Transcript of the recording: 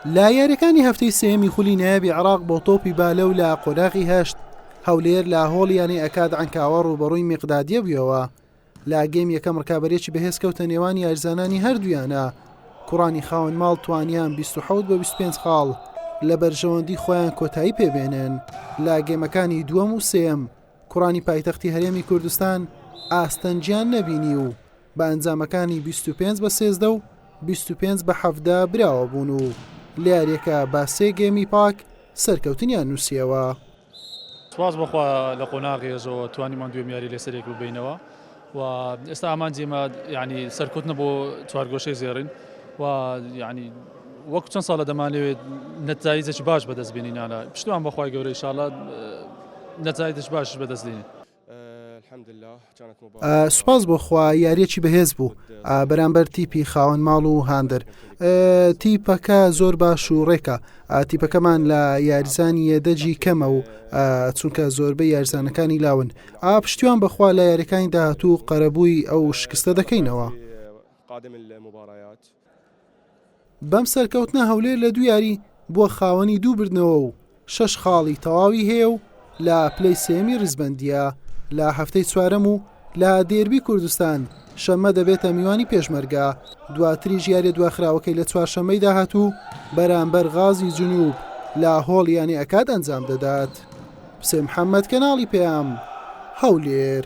لە یاریەکانی هەفتەی سێمی خولی نایابی عراق بۆ تۆپی بالە و لە قۆناغی هەشت هەولێر لە هۆڵ یانەی ئەکاد ئەنکاوە ڕوبەڕووی میقدادیە بووەوە لە گەم یەکەم ڕکابەرێکی بەهێز کەوتە نێوان یارزانانی هەردوویانە کوڕانی خاون ماڵ توانیان 26 بە 25 خاڵ لە بەرژەوەندی خۆیان کۆتایی پێبێنن لە گەمەکانی دووەم و سێم کوڕانی پایتەختی هەرێمی کوردستان ئاستەنجیان نەبینی و بە ئەنجامەکانی بیست و پێنج بە سێزدە و بیست و پێنج بە حەڤدە براوە بوون و لە یاریەکە با سێ گێمی پاک سەرکەوتنیان نووسیەوە. سپاس بۆخوا لە قۆناغی ئەزەوە توانیمان دوێم یاری لەسەرێک ببینەوە و ئێستا ئامانجی ئێمە یعنی سەرکەوتنە بۆ چوارگۆشەی زێڕین و یعنی وەک چەند ساڵە دەمانەوێت نەتایجێکی باش بەدەست بینینانە پشتمان بەخوای گەورە ئیشاڵە نەتایجش باش بەدەست دێنین سوپاس بۆ خوا یاریەکی بەهێز بوو بەرامبەر تیپی خاوەن ماڵ و هاندەر تیپەکە زۆر باش و ڕێکە تیپەکەمان لە یاریزانی یەدەجی کەمە و چونکە زۆربە یارزانەکانی لاون ئا پشتیوان بەخوا لە یاریەکانی داهاتوو قەرەبووی ئەو شکستە دەکەینەوە قادم المباريات بەم سەرکەوتنە هەولێر لە دوو یاری بووە خاوەنی دوو بردنەوە و شەش خاڵی تەواوی هەیە و لە پلەی سێمی ریزبەندیە لە هەفتەی چوارەم و لە دێربی کوردستان شەمە دەبێتە میوانی پێشمەرگە دواتری ژیارە دواخراوەکەی لە چوارشەمەی داهاتوو بەرامبەر غازی جنوب لە هۆڵ یانی ئەکات ئەنجام دەدات حسێن محەممەد کەناڵی پێیام هەولێر.